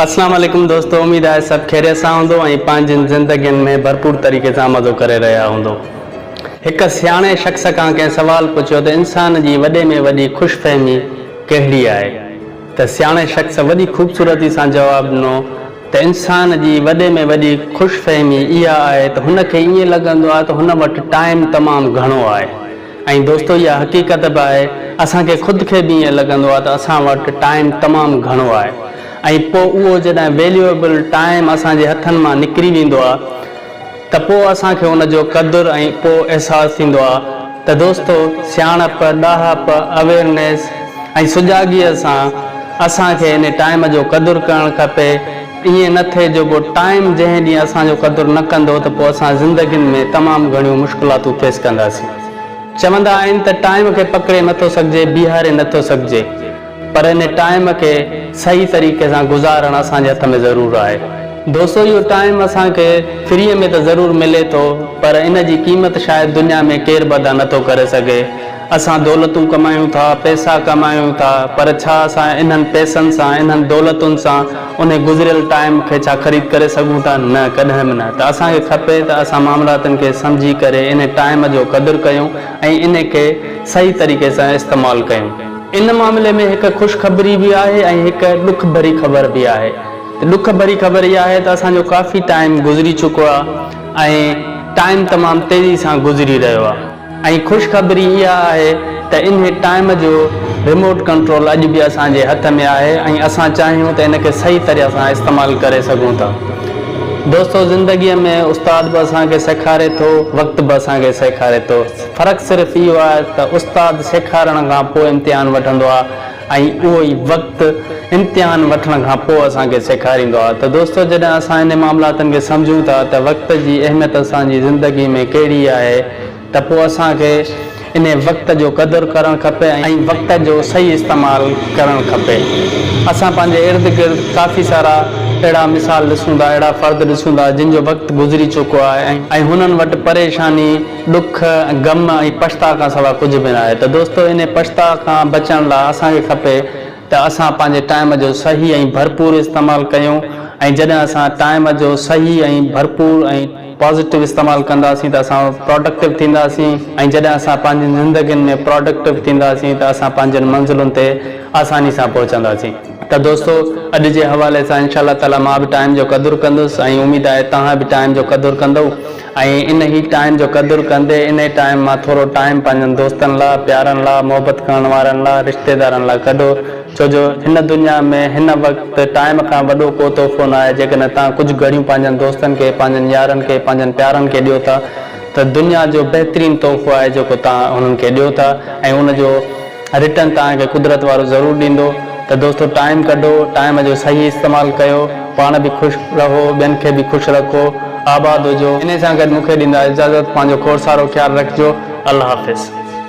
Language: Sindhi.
اسلام عليڪم دوستو اميد آهي سڀ خيريت سان هوندو ۽ پنهنجين زندگين ۾ ڀرپور طريقي سان مزو ڪري رهيا هوندو هڪ سياڻي شخص کان ڪنهن سوال پڇيو ته انسان جي وڏي ۾ وڏي خوش فهمي ڪهڙي آهي ته سياڻي شخص وڏي خوبصورتي سان جواب ڏنو ته انسان جي وڏي ۾ وڏي خوش فهمي اها آهي ته هن کي ائين لڳندو آهي ته هن وٽ ٽائيم تمام گهڻو آهي ۽ دوستو اها حقيقت به آهي اسان کي خود کي به ائين لڳندو آهي ته اسان وٽ ٽائيم تمام گهڻو آهي ۽ پوء اهو جڏهن ويليوئبل ٽائيم اسان جي هٿن مان نڪري ويندو آهي ته پوء اسان کي ان جو قدر ۽ پوء احساس ٿيندو آهي ته دوستو سياڻپ، ڏاهپ، اويئرنيس ۽ سجاڳيء سان اسان کي ان ٽائيم جو قدر ڪرڻ کپي. ائين نه ٿئي جو پوء ٽائيم جنهن ڏينهن اسان جو قدر نه ڪندو ته پوء اسان زندگين ۾ تمام گهڻيون مشڪلاتون فيس ڪنداسين. چوندا آهن ته ٽائيم کي پڪڙي نه ٿو سگهجي بيهاري نه ٿو سگهجي پر ان ٽائيم کي صحيح طريقي سان گذارڻ اسان جي هٿ ۾ ضرور آهي دوستو اهو ٽائيم اسان کي فري ۾ ته ضرور ملي ٿو پر ان جي قيمت شايد دنيا ۾ ڪير به ادا نه ٿو ڪري سگهي. اسان دولتون ڪمايون ٿا، پئسا ڪمايون ٿا، پر ڇا اسان انهن پئسن سان، انهن دولتن سان انهي گذريل ٽائيم کي ڇا خريد ڪري سگهون ٿا؟ نه، ڪڏهن به نه. ته اسان کي کپي ته اسان معاملاتن کي سمجهي ڪري انهي ٽائيم جو قدر ڪيون ۽ انهي کي صحيح طريقي سان استعمال ڪيون. ان معاملي ۾ هڪ خوشخبري به آهي ۽ هڪ ڏک ڀري خبر به آهي. ته ڏک ڀري خبر اها آهي ته اسان جو ڪافي ٽائيم گذري چڪو آهي ۽ ٽائيم تمام تيزي سان گذري رهيو آهي. ۽ خوش خبري اها آهي ته انهي ٽائيم جو ريموٽ ڪنٽرول اڄ به اسان جي هٿ ۾ آهي ۽ اسان چاهيون ته ان کي صحيح طرح سان استعمال ڪري سگهون ٿا. دوستو زندگي ۾ استاد به اسان کي سيکاري ٿو وقت به اسان کي سيکاري ٿو فرق صرف اهو آهي ته استاد سيکارڻ کان پوء امتحان وٺندو آهي. ۽ اهو ئي وقت امتحان وٺڻ کان پوء اسان کي سيکاريندو آهي ته دوستو جڏهن اسان انهن معاملاتن کي سمجهون ٿا ته وقت جي اهميت اسان جي زندگي ۾ ڪهڙي آهي ته پوء اسان کي انهي وقت جو قدر ڪرڻ کپي ۽ وقت جو صحيح استعمال ڪرڻ کپي اسان پنهنجي ارد گرد ڪافي سارا اهڙا مثال ڏسون ٿا اهڙا فرد ڏسون ٿا جن جو وقت گذري چڪو آهي ۽ هنن وٽ پريشاني ڏک، غم ۽ پڇتاء کان سوا ڪجهه به ناهي ته دوستو انهي پڇتاء کان بچڻ لاء اسان کي کپي ته اسان پنهنجي ٽائيم جو صحيح ۽ ڀرپور استعمال ڪيون ۽ جڏهن اسان ٽائيم جو صحيح ۽ ڀرپور ۽ پازيٽو استعمال ڪنداسين ته اسان پراڊڪٽو ٿينداسين ۽ جڏهن اسان پنهنجين زندگين ۾ پراڊڪٽو ٿينداسين ته اسان پنهنجين منزلن تي آساني سان پهچنداسين ته دوستو اڄ جي حوالي سان انشاء الله تعالي مان به ٽائيم جو قدر ڪندس ۽ اميد آهي توهان به ٽائيم جو قدر ڪندؤ. ۽ انهي ٽائيم جو قدر ڪندي انهي ٽائيم مان ٿورو ٽائيم پنهنجن دوستن لا، پيارن لا، محبت ڪرڻ وارن لا، رشتيدارن لا ڪڍو ڇو جو هن دنيا ۾ هن وقت ٽائيم کان وڏو ڪو تحفو ناهي جيڪڏهن توهان ڪجهه گهڙيون پنهنجن دوستن کي، پنهنجن يارن کي، پنهنجن پيارن کي ڏيو ٿا ته دنيا جو بهترين تحفو آهي جيڪو توهان هنن کي ڏيو ٿا ۽ ان جو. رٽن توهان کي قدرت وارو ضرور ڏيندو ته دوستو ٽائيم ڪڍو ٽائيم جو صحيح استعمال ڪيو پاڻ به خوش رهو ٻين کي به خوش رکو آباد هجو انهي سان گڏ مونکي ڏيندا اجازت پنهنجو کوڙ سارو خيال رکجو الله حافظ.